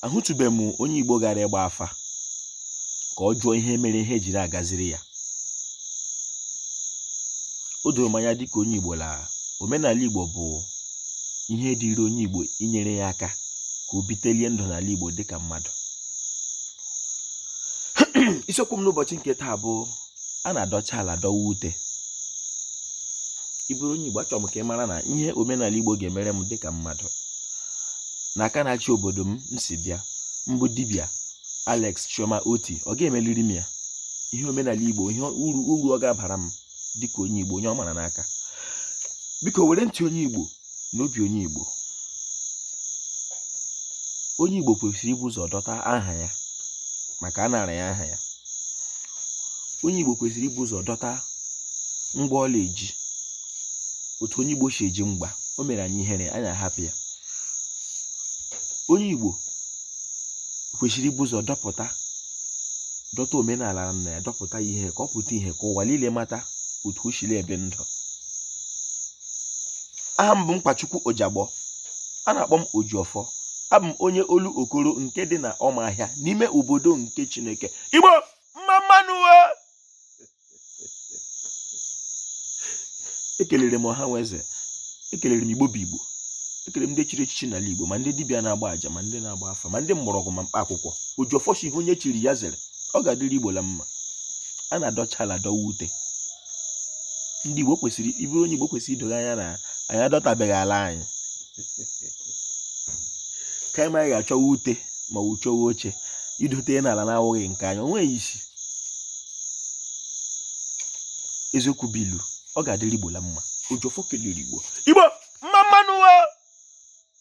ahụtụbeghị m onye Igbo gara ịgba afa ka ọ jụọ ihe mere ihe jiri agaziri ya o doro m anya dịka onye Igbo la omenala Igbo bụ ihe dịịrị onye Igbo inyere ya aka ka o bitelie ndụ n'ala Igbo dịka mmadụ isiokwu m n'ụbọchị nke taa bụ a na-adọcha ala dọwa ute ị bụrụ onye Igbo achọrọ m ka ị mara na ihe omenala Igbo ga-emere m dịka mmadụ na aka na-achị obodo m m si bịa mbụ dibịa Alex Chioma Otti ọ ga-emeliri m ya ihe omenala Igbo ihe uru ọ ga-abara m dịka onye Igbo onye ọ mara n'aka biko were ntị onye Igbo na obi onye Igbo onye Igbo kwesịrị ibu ụzọ dọta aha ya maka a nara ya aha ya onye Igbo kwesịrị ibu ụzọ dọta mgba ọla eji otu onye Igbo si eji mgba o mere anyị ihere anyị ahapụ ya onye Igbo kwesịrị ibu ụzọ dọta dọta omenala nna ya dọpụta ihe ka ọ pụta ihe ka ụwa niile mata otu o siri ebi ndụ aha m bụ Nkwachukwu Ojagbọ a na-akpọ m Ojiọfọ abụ m onye Olokoro nke dị na Ọmahịa n'ime obodo nke Chineke Igbo mma mma nụ ekelere m ọha nwe eze ekelere m Igbo bụ Igbo ekele m ndị chiri echichi n'ala Igbo ma ndị dibịa na-agba àjà ma ndị na-agba afa ma ndị mgbọrọgwụ ma mkpa akwụkwọ Ojiọfọ sị ihe onye chiri ya zere ọ ga-adịrị Igbo la mma a na-adọcha ala dọwa ute ndị Igbo kwesịrị ị bụrụ onye Igbo kwesịrị ido gị anya na anyị adọtabeghị ala anyị ka anyị ma ga-achọwa ute ma ọ wụ chọwa oche idote n'ala na-awụghị nke anyị o nweghị isi eziokwu bụ ilu ọ ga-adịrị Igbo la mma Ojiọfọ kelere Igbo Igbo mma mma nụ